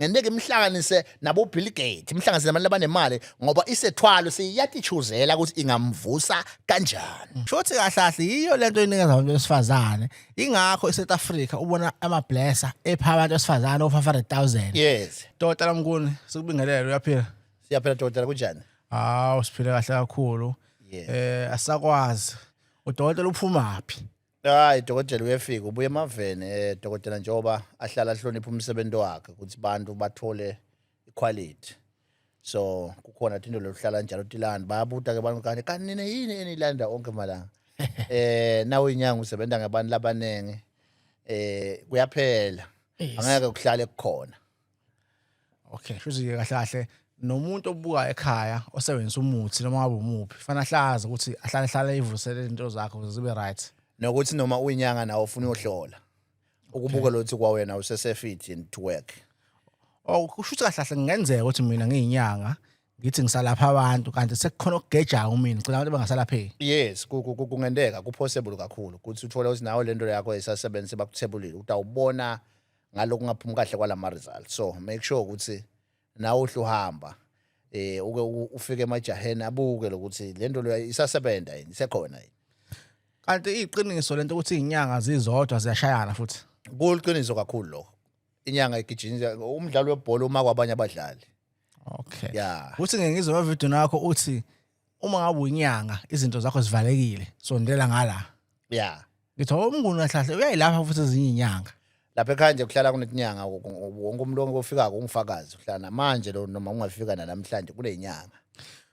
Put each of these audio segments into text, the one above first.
ngenteke imhlanganise nabo Bill Gates imhlanganise nabantu abanemali ngoba isethwalo siyatitshuzela ukuthi ingamvusa kanjani shothi kahlahle yiyo lento enikeza abantu besifazane ingakho eSouth Africa ubona ama blesser epha abantu besifazane of 500000 yes tota lamkuni sikubingelele uyaphila siyaphila tota kunjani hawo siphile kahle kakhulu eh asakwazi udokotela uphumaphi hayi dokotela uyefika ubuye emaveni eh dokotela njengoba ahlala ahlonipha umsebenzi wakhe ukuthi bantu bathole iquality so kukhona into lokuhlala njalo tilanda bayabuta ke abantu kanti kanti nina yini enilanda onke malanga eh nawe inyanga usebenza ngabantu labaningi eh kuyaphela angeke kuhlale kukhona okay shuthi kahle kahle nomuntu obuka ekhaya osebenzisa umuthi noma ngabe umuphi fanele ahlaze ukuthi ahlale hlale ivusele into zakho ukuze zibe right nokuthi noma uyinyanga nawe ufuna uyohlola ukubuka lothi kwa wena usesefit and to work oh kusho ukuthi kahle kahle kungenzeka ukuthi mina ngiyinyanga ngithi ngisalapha abantu kanti sekukhona okugejayo mina ngicela abantu bangasalapheki yes ku- ku- ku- kungenteka kupossible kakhulu ukuthi uthole ukuthi nawe lento yakho esasebenzi bakuthebulile utawubona ngaloku ngaphumi kahle kwalama results so make sure ukuthi nawe uhluhamba eh uke ufike emajaheni abuke lokuthi lento leyo isasebenza yini isekhona yini kanti iqiniso lento ukuthi izinyanga zizodwa ziyashayana futhi kuliqiniso kakhulu lokho inyanga igijinja umdlalo webhola uma kwabanye abadlali okay ya uthi ngengizwe ama video nakho uthi uma ngabe uyinyanga izinto zakho zivalekile sondela ngala ya ngithi oh, umnguni kahlahle uyayilapha futhi ezinye inyanga lapha ekhaya nje kuhlala kunetinyanga wonke umuntu ofikako ungifakazi uhlala namanje lo noma ungafika nanamhlanje kunenyanga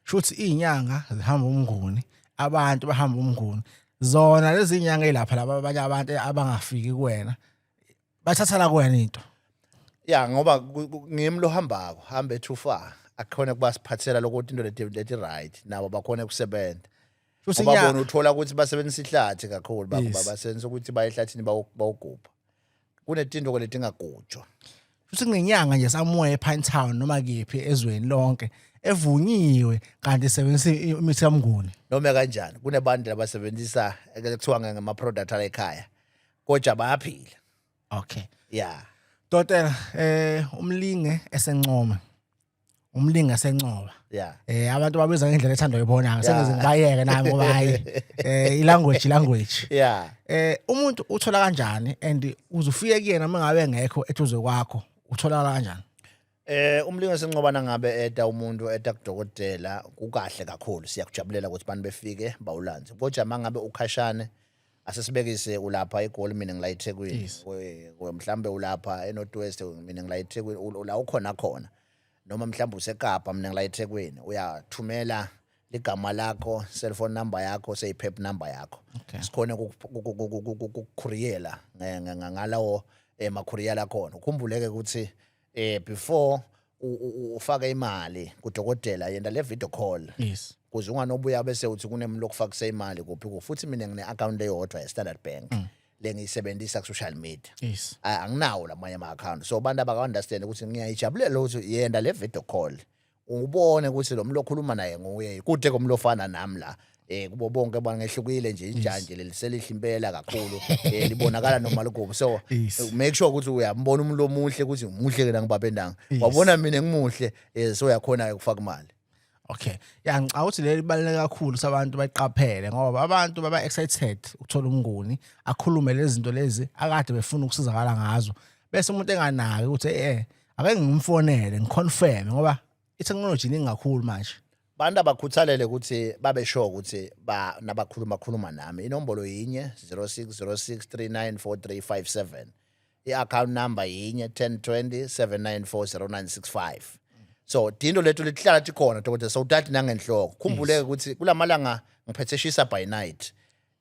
shuthi izinyanga zihamba umnguni abantu bahamba umnguni zona lezi nyanga elapha laba abanye abantu abangafiki kuwena bathatha la kuwena into ya ngoba ku- ku- ngimi lohambako hambe too far akukhona kuba siphathela lokuthi into leti leti right nabo bakhona kusebenza Shuthi ngoba nya- bona uthola ukuthi basebenzisa ihlathi kakhulu bakuba Yes. basebenzisa ukuthi baye ehlathini bawo- bawogubha kunetinto ke letingagujwa futhi ngenyanga nje somewhere ePine Town noma kephi ezweni lonke evunyiwe kanti isebenzisa i- imithi kamnguni noma kanjani kunebantu labasebenzisa ekuthiwa ngama-product ala ekhaya kodwa bayaphila okay yeah Dotela eh umlinge esencoma umlingi asencoba yeah eh abantu babiza ngendlela ethandwa yibona sengize ngibayeke nami ngoba hayi eh ilanguage language yeah eh umuntu uthola kanjani and uzufike kuyena mangabe ngekho ethuze kwakho uthola kanjani Eh umlingisi Ncobana ngabe eta umuntu eta kudokotela kukahle kakhulu siyakujabulela ukuthi abantu befike bawulanze. Kodwa mangabe ukhashane asesibekise ulapha eGoli mina ngila eThekwini. Yes. We- we- Mhlambe ulapha eNorth West mina ngila eThekwini ul- ula ukhona khona. Noma mhlambe useKapa mina ngila eThekwini uyathumela ligama lakho, cell phone number yakho, seyiphep number yakho. Okay. Sikhona ukukhuriyela ngalawo emakhuriyela khona. Ukhumbuleke ukuthi eh before u- u- u- ufake imali kudokotela yenda le video call yes kuze unganobuya bese uthi kunemlo okufakise imali kuphi kuphi futhi mina ngine account eyodwa ye Standard Bank Mm. lengiyisebenzisa ku social media yes A- anginawo lamanye ama account so abantu abaka understand ukuthi ngiyayijabulela ukuthi yenda le video call ubone ukuthi lo mlo okhuluma naye nguye kude komlofana nami la eh kubo bonke abantu ngehlukile nje ijanje leli selihle impela kakhulu eh libonakala noma likubo so Yes. make sure ukuthi uyambona umuntu omuhle ukuthi umuhle ke nangibaba endanga Yes. wabona mina ngimuhle eh so uyakhona ke ukufaka imali okay ya ngicabanga ukuthi leli baluleke kakhulu ukuthi abantu bayiqaphele ngoba abantu baba excited ukuthola umnguni akhulume lezi zinto lezi akade befuna ukusizakala ngazo bese umuntu enganaki ukuthi eh ake ngimfonele ngiconfirm ngoba i-technology iningi kakhulu manje bantu abakhuthalele ukuthi babe sure ukuthi ba nabakhuluma khuluma nami inombolo yinye 0606394357 i-account number yinye 1020794095 so dindo lethu lihlala tikhona dokotela sowutati nangenhloko khumbuleke ukuthi kulamalanga ngiphethe shisa by night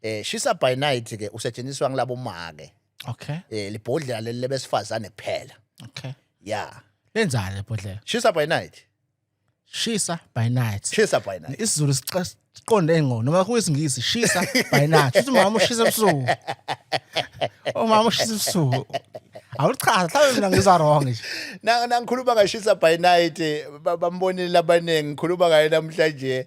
Eh shisa by night ke usetshenziswa ngilabo make. Okay. Eh libhodlela leli lebesifazane kuphela. Okay. Yeah. Lenzani lebhodlela? Shisa by night. Shisa by night. Shisa by night. IsiZulu siqonde engqondo noma kuyisingisi shisa by night. Uthi mama ushisa ebusuku. Oh mama ushisa ebusuku. awuchaza mhlawumbe mina ngiza wrong nje nangikhuluma ngashisa by night bambonile abaningi ngikhuluma ngaye namhlanje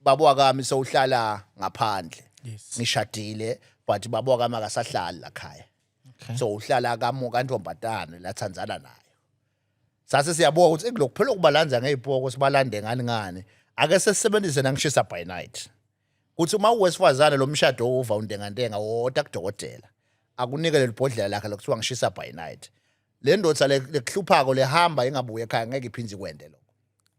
baba wakami sowuhlala ngaphandle Yes. ngishadile but baba wakami akasahlali la khaya Okay. so uhlala kamu kantombazane lathandzana nayo sase siyabuka ukuthi "Eyi, lokhu phela ukubalanza ngey'poko sibalande ngani ngani ake sesisebenzise nangishisa by night kuthi uma uwesifazane lo mshado owuva untengantenga woda kudokotela akunike leli bhodlela lakhe lokuthiwa ngishisa by night le ndoda le- lekuhluphako lehamba ingabuye ekhaya ngeke iphinde ikwende lokho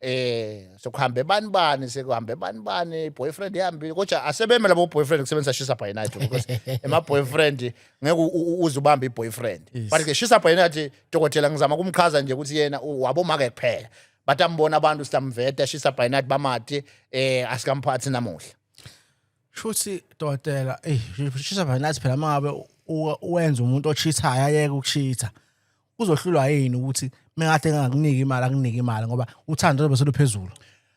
eh sokuhambe bani bani sekuhambe bani bani boyfriend ihambile kodwa asebeme labo boyfriend kusebenzisa shisa by night because ema boyfriend ngeke u- u- uze ubambe boyfriend Yes. but ke shisa by night dokotela ngizama kumchaza nje ukuthi yena u- wabomake kuphela but ambona abantu sitamveta shisa by night bamati eh asikamphathi namuhla shuthi dokotela ey shisa by night phela mangabe u- wenza umuntu ochithayo ayeke ukuchitha uzohlulwa yini ukuthi mekade engakuniki imali akunike imali ngoba uthando lobe seluphezulu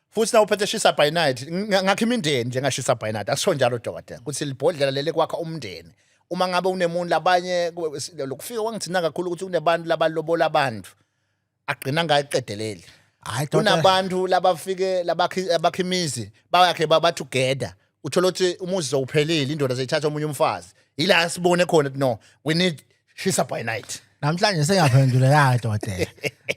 futhi nawu phethe shisa by night ngakho imindeni njengashisa by night akusho njalo dokotela ukuthi libhodlela lele kwakha umndeni uma ngabe unemuntu labanye lokufika kwangithina kakhulu ukuthi kunebantu labalobola abantu agcina ngayiqedeleli hayi kunabantu labafike labakhi imizi bayakhe baba together uthola ukuthi umuzi sowuphelile indoda seyithatha omunye umfazi yila sibone khona ukuthi no we need shisa by night namhlanje sengaphendula la dodela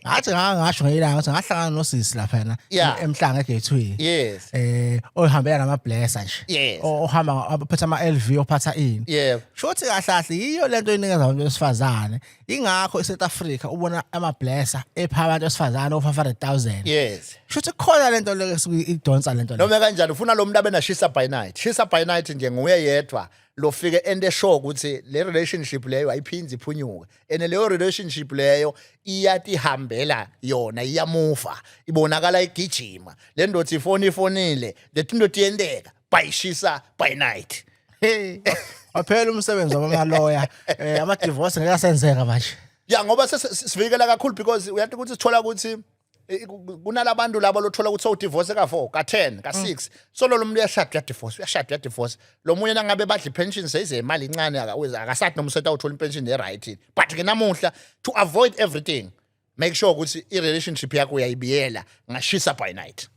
ngathi ngangasho ngeyilanga ukuthi ngahlangana nosisi lapha na Yeah. emhlanga egethwini yes eh ohambela nama blesser nje Yes. O- ohamba aphetha ama LV ophatha ini yebo shothi kahle kahle yiyo lento enikeza abantu besifazane ingakho eSouth Africa ubona ama blesser epha abantu esifazana of 500000 yes shuthi khona lento leke idonsa lento noma kanjani ufuna lo muntu abena shisa by night shisa by night nje nguye yedwa lofike ende show ukuthi le relationship leyo ayiphindi iphunyuke ene leyo relationship leyo iyatihambela yona iyamuva ibonakala igijima le ndoda ifoni ifonile lethi indoda iyenteka bayishisa by night hey waphela umsebenzi wamaloya eh ama divorce ngeke asenzeka manje ya ngoba sesivikela kakhulu because uyathi ukuthi sithola ukuthi kunalabantu labo lothola ukuthi sowudivorce ka-4 ka-10 ka-6 mm. so lo muntu uyashada uyadivorce uyashada uyadivorce lo munye nangabe badla ipension seyize imali incane akasathi noma usethi awuthola ipension e-right but ke namuhla to avoid everything make sure ukuthi i-relationship yakho uyayibiyela ngashisa by night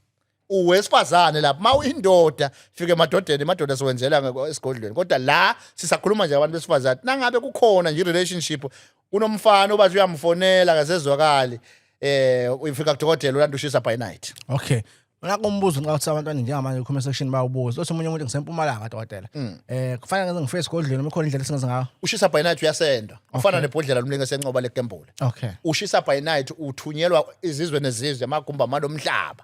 uwesifazane lapha mawu indoda fike emadodeni emadoda siwenzela ngeko- esigodlweni kodwa la sisakhuluma nje abantu besifazane nangabe kukhona nje i-relationship kunomfana obathi uyamfonela akasezwakali eh uyifika kudokotela ulanda ushisa by night okay ngakho umbuzo nxa uthi abantwana njengamanje comment section bawubuza othi omunye umuntu ngisempumalanga dokotela eh kufanele ngenze ngifike esigodlweni uma ikhona indlela esingenza ngayo ushisa by night uyasenda ufana nebhodlela lomlingo esenqoba lekembula okay ushisa by night uthunyelwa izizwe nezizwe amagumba malomhlaba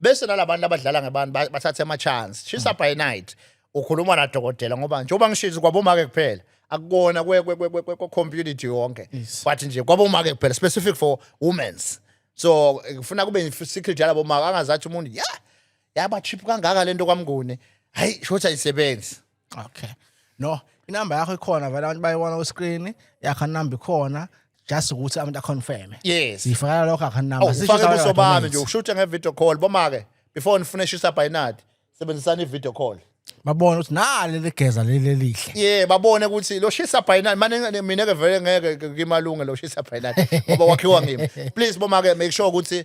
bese nalabantu abadlala ngebantu ba- bathathe ama chance shisa by night ukhuluma na dokotela ngoba njengoba ngishisa kwabomake kuphela akukona kwe kwe- kwe- kwe- kwe- kwe community yonke Yes. but nje kwabomake kuphela specific for women's so eh, kufuna kube i- secret yalabo maka angazathi umuntu ya yaba cheap kangaka lento kwamnguni hayi shothi ayisebenzi okay no inamba yakho ikhona vele abantu bayibona ku-screen yakho number ikhona just ukuthi abantu aconfirme yes sifakela lokho akho number Awu, ufake ubuso bami nje ushuthe nge-video call boma-ke before nifune shisa bhayinadi sebenzisani i-video call babone ukuthi nali ligeza leli elihle ye babone ukuthi lo shisa bhayinadi mane mina-ke vele ngeke ngimalunge lo shisa bhayinadi ngoba wakhiwa ngimi please boma-ke make sure ukuthi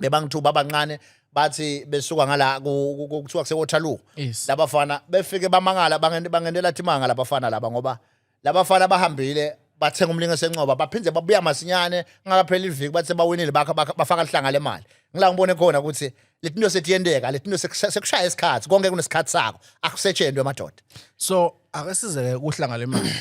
bebangithuba abancane bathi besuka ngala kuthiwa kuseWaterloo yes. labafana befike bamangala bangendela thimanga labafana laba ngoba labafana bahambile bathenga umlingo esencoba baphinde babuya masinyane ngakaphela iviki bathe bawinile bafaka lihlanga lemali ngila ngibone khona ukuthi letinto setiyenteka letinto sekushaya isikhathi konke kunesikhathi sako akusetshentwe madoda so akesizeke kuhlanga lemali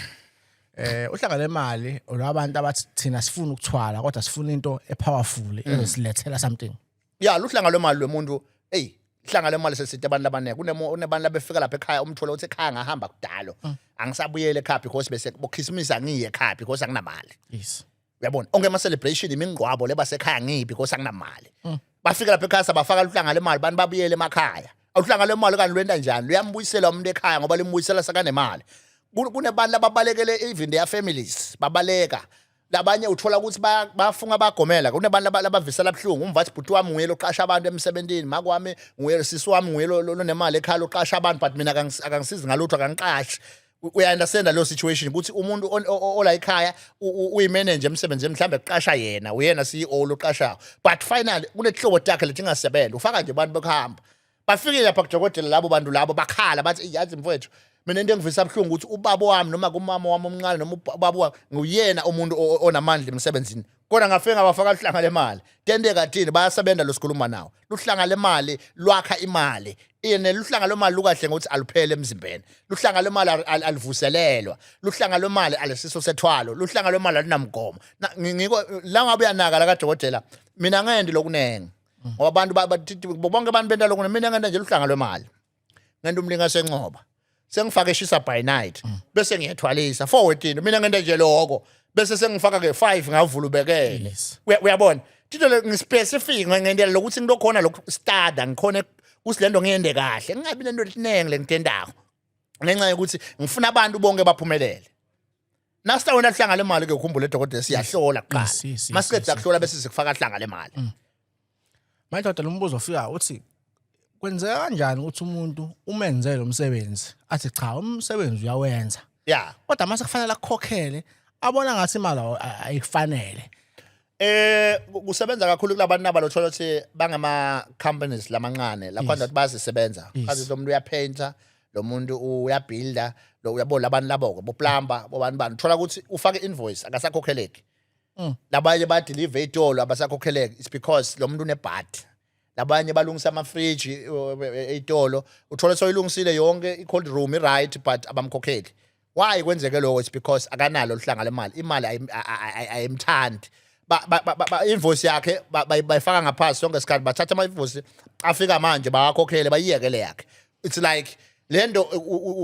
eh uhlanga lemali olabantu abathi thina sifuna ukuthwala kodwa sifuna into epowerful ezosilethela something ya luhlanga lwemali lwemuntu hey ihlanga lemali sesithe abantu abaningi kunemo unebantu labefika lapha ekhaya umthole uthi ekhaya ngahamba kudalo angisabuyele ekhaya because bese bokhisimusi angiye ekhaya because anginamali yes uyabona onke ama celebration imingqwabo leba sekhaya ngibi because anginamali mm. bafika lapha ekhaya sabafaka luhlanga lemali abantu babuyele emakhaya awuhlanga lemali kanti lwenta njani luyambuyisela umuntu ekhaya ngoba limbuyisela sakanemali kunebantu ababalekele even their families babaleka labanye uthola ukuthi bafunga bagomela kunebantu labavisela abuhlungu umvathi bhuti wami nguye loqasha abantu emsebenzini makwami nguye sisi wami nguye lonemali ekhaya loqasha abantu but mina akangisizi ngalutho akangiqashi uyaunderstanda leyo situation ukuthi umuntu ola ekhaya uyimanager emsebenzini mhlawumbe kuqasha yena uyena CEO loqashayo but finally kunehlobo takhe lethi ingasebenza ufaka nje abantu bekuhamba bafike lapha kudokotela labo bantu labo bakhala bathi yazi mfowethu mina into engivisa abuhlungu ukuthi ubaba wami noma kumama wami omncane noma ubaba wami nguyena umuntu onamandla emsebenzini kodwa ngafike ngabafaka luhlanga lemali tente kathini bayasebenza losikhuluma nawo luhlanga lemali lwakha imali yena luhlanga lwemali lukahle ngokuthi aluphele emzimbeni luhlanga lwemali alivuselelwa luhlanga lwemali alisiso sethwalo luhlanga lwemali alinamgomo ngiko la ngabe uyanaka la kadokotela mina ngendi lokunenge ngoba abantu bonke abantu benta lokunenge mina ngenda nje luhlanga lwemali ngento umlinga sencoba sengifaka eshisa by night mm. bese ngiyethwalisa forward into mina ngento nje lokho bese sengifaka ke 5 ngavula ubekele uyabona tito ngispecific ngendela lokuthi ngilokhona lokhu stada ngikhona kusilento ngiyende kahle ngingabi nento elinenge lengitendako ngenxa yokuthi ngifuna abantu bonke baphumelele Nasta wena hlanga le mali ke ukhumbule dokotela siyahlola kuqala. Yes, yes, yes, Masiqeda yes, kuhlola bese sikufaka hlanga le mali. Manje kodwa lo mbuzo ofika uthi kwenzeka kanjani ukuthi umuntu umenze lo msebenzi athi cha umsebenzi uyawenza Yeah. kodwa mase kufanele akukhokhele abona ngathi imali awu- a- ayikufanele Eh kusebenza kakhulu kulabantu naba lothola ukuthi bangama companies lamancane lapho nje bazisebenza kazi lo muntu uyapainter lo muntu uyabuilder lo uyabo labantu labo ke bo plumber bo bantu bani thola ukuthi ufake invoice akasakhokheleki mm. labanye ba deliver itolo abasakhokheleki it's because lo muntu unebhadi labanye balungisa amafriji ey'tolo uthole soyilungisile yonke i-cold room i-right but abamkhokheli why kwenzeke lokho it's because akanalo luhlanga lemali imali ayimthandi invoice yakhe bayifaka ngaphansi sonke isikhathi bathatha ama-invoice afika manje bawakhokhele bayiyekele yakhe it's like le nto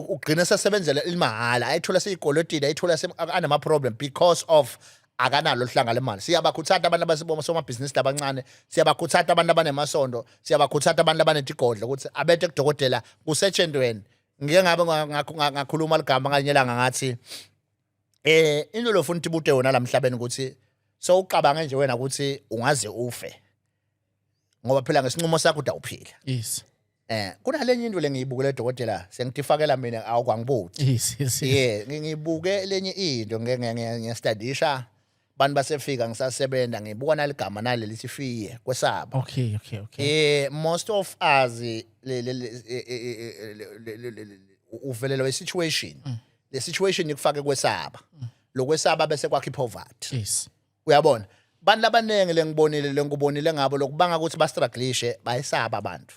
ugcina sesebenzela ilimahhala ayithola seyikolotile ayithola anama-problem because of akanalo oluhlanga lemali siyabakhuthata abantu abasiboma somabhizinisi labancane siyabakhuthata abantu abanemasondo siyabakhuthata abantu abanetigodlo ukuthi abethe kudokotela kusetshentweni ngike ngabe ngakhuluma ligama nganye langa ngathi eh into lofuna ukuthi bude wona lamhlabeni ukuthi sowucabanga nje wena ukuthi ungaze ufe ngoba phela ngesinqumo sakho uda uphila yes Eh kunalenye into lengiyibukele dokotela sengithifakela mina awukwangibuthi. Yes yes. Yeah ngibuke lenye into ngiyastadisha bantu basefika ngisasebenza ngibuka naligama nale lithi fiye kwesaba. Okay okay okay. Eh most of us uvelelo we situation. Le situation ikufake kwesaba. Lokwesaba bese kwakhe poverty. Yes. uyabona abantu labaningi lengibonile lengikubonile ngabo lokubanga ukuthi bastruglishe bayisaba abantu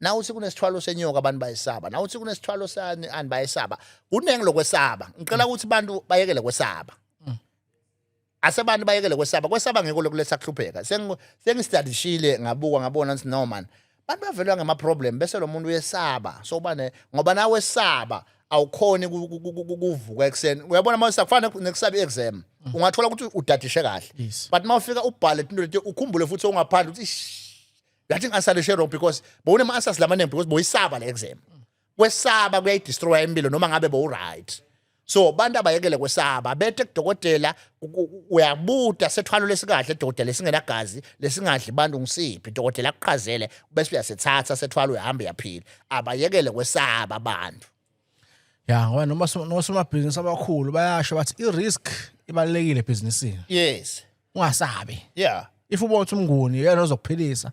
nawuthi kunesithwalo senyoka abantu bayisaba nawuthi kunesithwalo sani ani bayisaba kuningi lokwesaba ngicela ukuthi abantu bayekele kwesaba mm. asebantu bayekele kwesaba kwesaba ngiko lokuletha kuhlupheka sengistadishile ngabuka ngabona ukuthi no man Abantu bavelwa ngama problem bese lo muntu uyesaba so ubane ngoba nawe esaba awukhoni ukuvuka ekuseni uyabona manje sakufana nekusaba i-exam mm. ungathola ukuthi udadishe kahle but uma ufika ubhale into leti ukhumbule futhi ongaphandle ukuthi yathi ngasalishe wrong because bowune ma-answers lamaningi because boyisaba le exam kwesaba kuyayidestroya impilo noma ngabe bowuright so abantu abayekele kwesaba bethe kudokotela uyabuta sethwalo lesikahle dokotela esingenagazi lesingadli bantu ngisiphi dokotela akuqhazele bese uyasethatha sethwalo uyahamba uyaphila abayekele kwesaba abantu ya ngoba noma nosomabhizinisi abakhulu bayasho bathi i-risk ibalulekile ebhizinisini yes ungasabi yeah if ubona ukuthi umnguni yena ozokuphilisa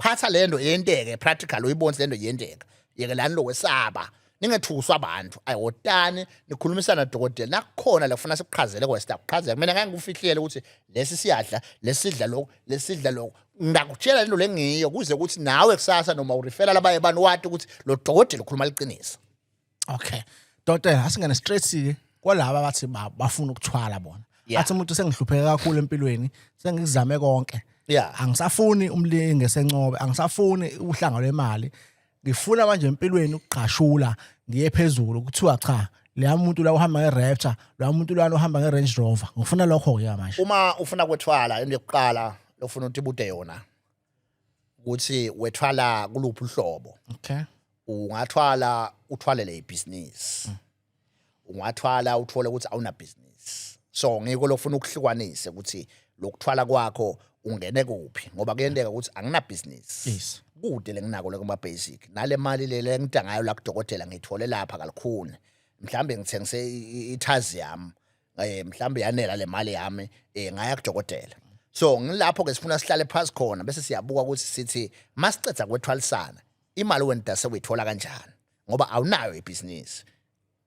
phatha le nto yenteke practical uyibonise le nto yenteka yekelani lokwesaba ningethuswa abantu ayotani nikhulumisana dokotela nakukhona lafuna sikuqhazele kwesta kuqhazela mina ngeke ngikufihlele ukuthi lesi siyadla lesidla lokho lesidla lokho ngakutshela lento lengiyo kuze ukuthi nawe kusasa noma ureferral abaye bani wati ukuthi lo dokotela ukhuluma liqiniso okay dotela asingene straight ke kwalaba abathi ba- bafuna ukuthwala bona Yeah. athi umuntu sengihlupheke kakhulu empilweni sengizame konke Yeah. angisafuni umlinge sencobe angisafuni uhlanga lwemali ngifuna manje empilweni ukugqashula ngiye phezulu kuthiwa cha leya muntu la uhamba nge-rapture loya muntu lwana uhamba nge-range rover ngifuna lokho-ke manje uma ufuna kwethwala into yokuqala lofuna ukuthi bude yona ukuthi wethwala kuluphi uhlobo okay ungathwala uthwalele ibhizinisi ungathwala uthole ukuthi awuna business so ngiko lofuna ukuhlukanise ukuthi lokuthwala kwakho ungene kuphi ngoba kuyenteka ukuthi angina business yes kude lenginako lokuma basic nale mali lele engidangayo la kudokotela ngithole lapha kalikhuni mhlambe ngithengise ithazi yami eh mhlambe yanela le mali yami eh ngaya kudokotela so ngilapho ke sifuna sihlale phansi khona bese siyabuka ukuthi sithi masicetha kwethwalisana imali wenda sekuyithola kanjani ngoba awunayo ibhizinisi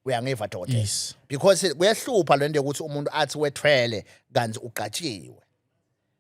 uyangiva dokotela Yes. because kuyahlupha lento yokuthi umuntu athi wethwele kanti ugatshiwe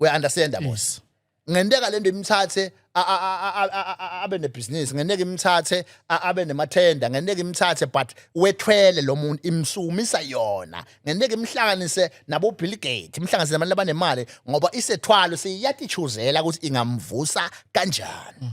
we understand mm. boss ngenteka lento imthathe abe nebhizinisi ngenteka imthathe abe nemathenda ngenteka imthathe but wethwele lo muntu imsumisa yona ngenteka imhlanganise nabo Bill Gates imhlanganise nabantu abanemali ngoba isethwalo siyatichuzela ukuthi ingamvusa kanjani mm.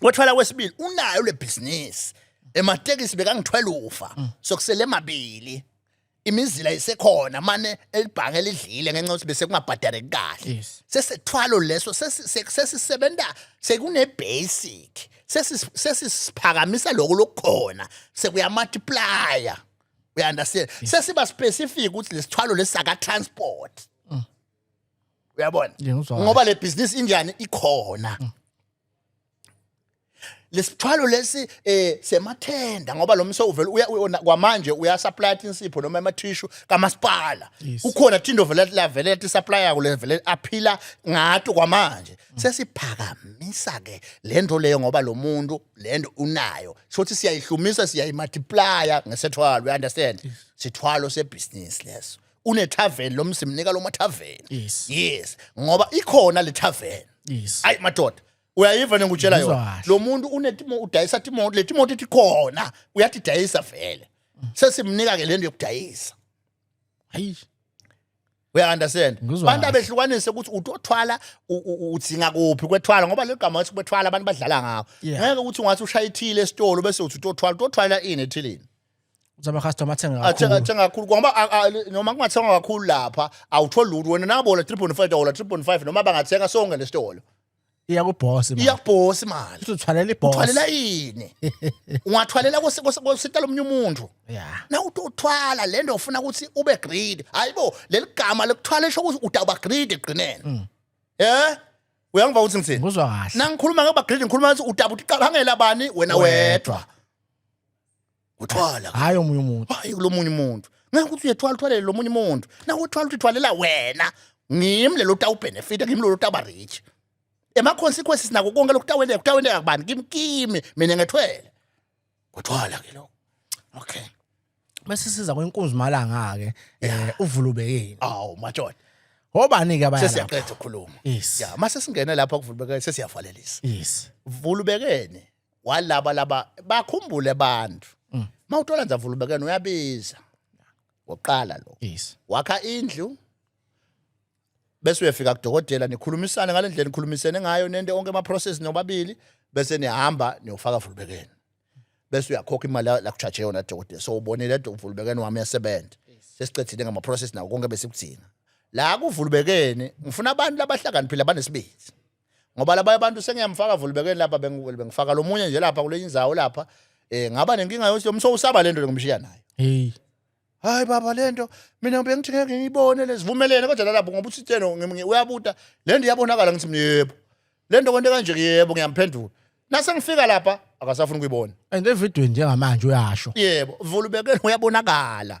Kwathwala kwesibili unayo le business. Ematekisi bekangithwela ufa. Mm. Sokusele mabili. Imizila isekhona mane elibhange lidlile ngenxa ukuthi bese kungabhadare kahle. Yes. Sesethwalo leso sesi- se- sesisebenza sekune basic. Sesi- Sesisiphakamisa lokho lokukhona sekuya multiplier. Uya understand? Sesiba specific ukuthi lesithwalo lesaka transport. uyabona Yeah, ngizwa kahle. ngoba le business injani ikhona lesithwalo lesi eh semathenda ngoba lo mso uvela uya uyona kwamanje uya supply insipho noma ama tissue kamasipala Yes. ukhona thindo vele la vele ti supply yako le vele aphila ngato kwamanje sesiphakamisa ke lento leyo ngoba lo muntu lento unayo shothi siyayihlumisa siyayimultiplier ngesethwalo you understand sithwalo se business leso une tavern lo mzi mnika lo ma tavern Yes. yes ngoba ikhona le tavern Yes. ayi madoda uyayiva nengutshela Ngizwa yona kahle. lo muntu unetimo udayisa timoto le timoto ethi khona uyathi dayisa vele Mm. sesimnika ke lento yokudayisa Hayi. uya understand Ngizwa abantu kahle. abehlukanise ukuthi utothwala u- u- udzinga kuphi kwethwala ngoba legama wathi kwethwala abantu badlala ngawo Yeah. ngeke ukuthi ungathi ushaya ithile esitolo bese uthi utothwala utothwala ini ethilini Uthi ama-customer athenga athenga kakhulu. athenga kakhulu ngoba a- a- noma kungathengwa kakhulu lapha awutholi lutho wena nabola 3.5 wola 3.5 noma bangathenga sonke nesitolo Iya kubhosi manje. iyakubhosa imali Uthi uthwalela ibhosi. uthwalela yini ungathwalela kwesi- kwesi- kwesitolo omunye umuntu Yeah. na uthi uthwala le nto ufuna ukuthi ube greedy hayi bo leli gama lokuthwala esho ukuthi udawuba greedy ekugqineni um uyangiva ukuthi ngithini Ngizwa kahle. nangikhuluma ngoba greedy ngikhuluma ukuthi udaba uthi qala ngela bani wena wedwa uthwala hayi omunye umuntu hayi kulomunye umuntu ngeke ukuthi uyethwala uthwalele lomunye umuntu nawe uthwala ukuthi uthwalela wena ngimi lelo utawubenefita ngimi lelo utaba rich ema consequences nako konke lokutaweleka kutaweleka kubani kimi kimi mina ngethwele uthwala ke lokho okay bese siza kwenkunzi malanga ke eh uvulubekeni awu majoda Obani ke abanye sesiyaqeda ukukhuluma yes ya mase singena lapha kuvulubekeni sesiyavalelisa yes vulubekeni walaba laba bakhumbule abantu mm. mawuthola nza vulubekene uyabiza ngoqala lo yes wakha indlu bese uyafika kudokotela nikhulumisana ngalendlela nikhulumisene ngayo nende onke ama process nobabili bese nihamba niyofaka vulubekene bese uyakhokha imali la kuchaje yona dokotela so ubonile vulubekene wami yasebenza sesiqedile ngama process nawo konke besikudinga la kuvulubekene ngifuna abantu labahlakaniphile abanesibindi ngoba labanye abantu sengiyamfaka vulibekeni lapha bengifaka lo munye nje lapha kule inzawo lapha um ngaba nenkinga yokuthi lo mso usaba le nto ngimshiya nayo heyi hayi baba le nto mina bengithi ngeke ngiyibone lezivumelene kodwa lalapho ngoba usitsheno uyabuta le nto iyabonakala ngithi mina yebo le nto kwento kanje yebo ngiyamphendula nase ngifika lapha akasafuni ukuyibona and evidweni njengamanje uyasho yebo vulubekeni uyabonakala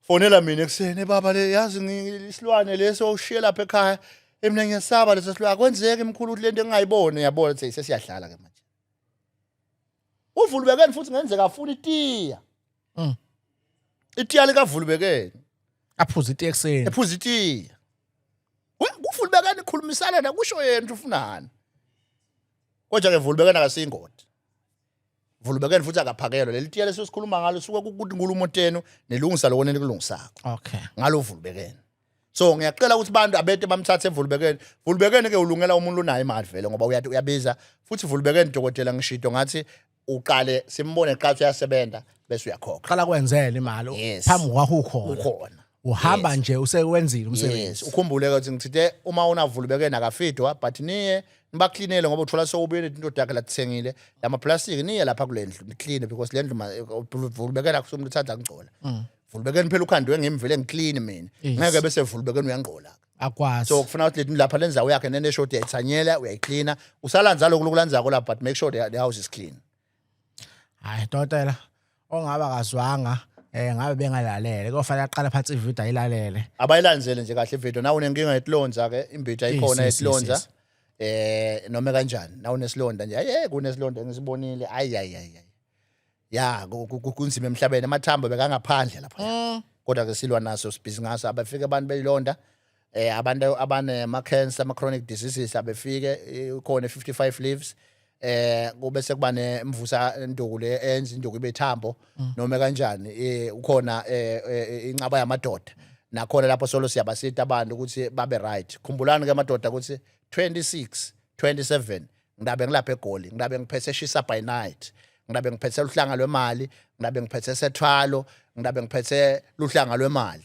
fonela mina ekuseni baba le yazi isilwane leso ushiye lapha ekhaya emina ngiyasaba leso silwane akwenzeki mkhulu ukuthi lento engingayibone yabona ukuthi sesiyadlala ke manje uvulubekeni futhi ngenzeka afuna itiya mm. itiya likavulubekeni aphuza itiya ekuseni ephuza itiya kuvulubekeni ikhulumisana nakusho yena ufunani kodwa ke vulubekeni akasiyingodi vulubekeni futhi akaphakelwa leli tiya lesisikhuluma ngalo suka ukuthi nkulumo tenu nilungisa lokho nenikulungisako okay ngalo vulubekeni so ngiyacela ukuthi abantu abete bamthathe vulubekeni vulubekeni ke ulungela umuntu onayo imali vele ngoba uyathi uyabiza futhi vulubekeni dokotela ngishido ngathi uqale simbone qathu yasebenza bese uyakhokha qala kwenzela imali Yes. phambi kwakho ukhona ukhona uhamba Yes. nje usewenzile yes umsebenzi ukhumbule ukuthi ngithithe uma unavulu beke nakafidwa but niye nibaklinele ngoba uthola sewubuye nethi indoda yakhe lathengile lama plastic niye lapha kule ndlu niclean because le ndlu ma- vulu beke nakusuka umuntu uthanda ngcola vulu beke phela ukhandwe ngimvele ngiclean mina Mm. Yes. ngeke bese vulu beke uyangqola akwazi so kufuna ukuthi lethi lapha lenzawo yakhe nene short uyayithanyela uyayiklina usalanza lokhu lokulanzako la but make sure the, the house is clean hayi dokotela ongaba kazwanga eh ngabe bengalalele kofanele aqale phansi ivideo ayilalele abayilandzele nje kahle ivideo nawe unenkinga yetilonza ke imbitha ikhona yetilonza eh noma kanjani nawe unesilonda nje ayi kunesilonda ngisibonile ayi ayi ayi ya kunzima emhlabeni amathambo bekangaphandle lapha mm. kodwa ke silwa naso sibhizi ngaso abafike abantu beyilonda eh abantu abane ma cancer ama chronic diseases abefike eh, khona 55 leaves eh kube sekuba nemvusa induku le enza induku ibe thambo mm. noma kanjani eh ukhona eh, eh inqaba yamadoda nakhona lapho solo siyabasita abantu ukuthi babe right khumbulani ke madoda ukuthi 26 27 ngidabe ngilapha egoli ngidabe ngiphethe shisa by night ngidabe ngiphethe luhlanga lwemali ngidabe ngiphethe sethwalo ngidabe ngiphethe luhlanga lwemali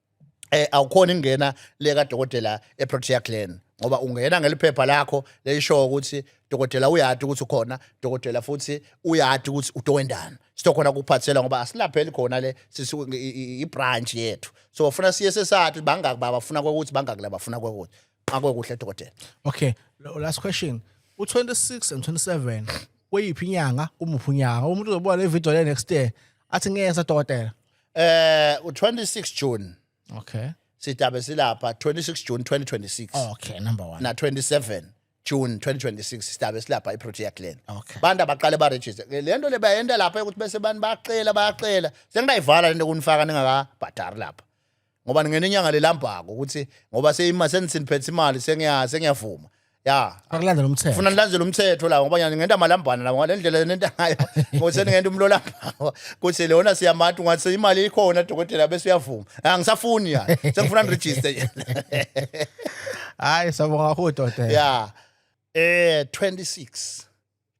eh awukhona ingena le kadokotela eProtea Glen ngoba ungena ngeliphepha lakho leyisho ukuthi dokotela uyati ukuthi ukhona dokotela futhi uyati ukuthi utowendana sitokhona kuphathela ngoba asilapheli khona le sisi ibranch yethu so ufuna siye sesathi bangaki baba funa kokuthi bangaki laba funa kokuthi nqakwe kuhle dokotela okay last question u26 and 27 kweyiphi inyanga kumuphi unyanga umuntu uzobona le video le next year athi ngeke sadokotela Eh u26 June okay sidabe silapha 26 June 2026 okay number 1 na 27 June 2026 sidabe silapha iProtea Glen okay bantu abaqale ba register lento le bayenta lapha ukuthi bese abantu baqela bayaqela sengidayivala lento kunifaka ningaka bhadari lapha ngoba ngingena inyanga lelambhako ukuthi ngoba seyima sensiniphethe imali sengiya sengiyavuma ya Akulandela umthetho. funa nilandele umthetho la ngoba nyani ngenta malambana la ngale ndlela nenta ngayo ngose ngenta umlolambako kuthi lona siyamati ngathi imali ikhona dokotela bese uyavuma ha ngisafuni ya sengifuna ni register Hayi sabonga kakhulu dokotela. ya eh 26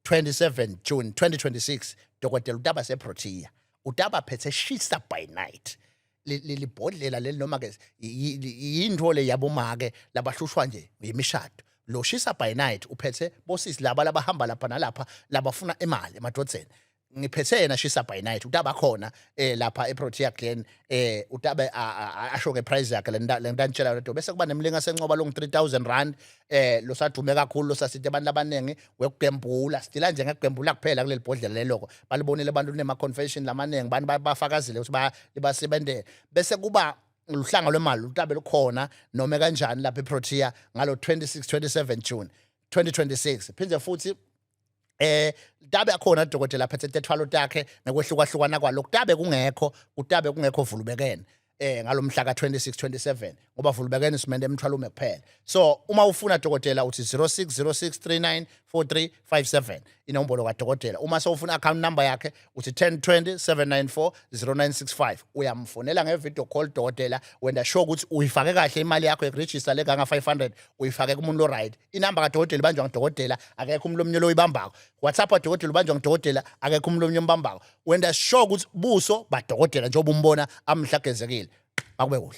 27 June 2026 dokotela utaba seprotea utaba phethe shisa by night lelibhodlela leli noma ke yinto le yabomake labahlushwa nje yimishado lo shisa by night uphethe bosisi laba labahamba lapha nalapha labafuna imali emadodzeni ngiphethe yena shisa by night utaba khona eh lapha eProtea Glen eh utabe asho ke price yakhe lenta lenta ngitshela lento bese kuba nemlinga sencoba long 3000 rand eh lo sadume kakhulu lo sasithe abantu abaningi wekugembula sidila nje ngekugembula kuphela kuleli bhodlela leloko balibonile abantu nema confession lamaningi abantu bafakazile ukuthi ba libasebenzele bese kuba luhlanga lwemali utabe lukhona noma kanjani lapha eProtea ngalo 26 27 June 2026 phinde futhi eh tabe akhona dokotela phethe tethwalo takhe nekwehlukahlukana kwalokho tabe kungekho kutabe kungekho vulubekene eh ngalomhla ka26 27 ngoba vulubekene simende emthwalo ume kuphela so uma ufuna dokotela uthi 0606394357 inombolo kadokotela uma sewufuna account number yakhe uthi 1020794095 uyamfonela ngevideo call dokotela wenda sure ukuthi uyifake kahle imali yakho ekuregister le kanga 500 uyifake kumuntu lo right inamba kadokotela ibanjwa ngudokotela akekho umuntu omnyolo oyibambako whatsapp wadokotela ubanjwa ngudokotela akekho umuntu omnyolo ombambako wenda sure ukuthi buso badokotela njengoba umbona amhla agezekile akube kuhle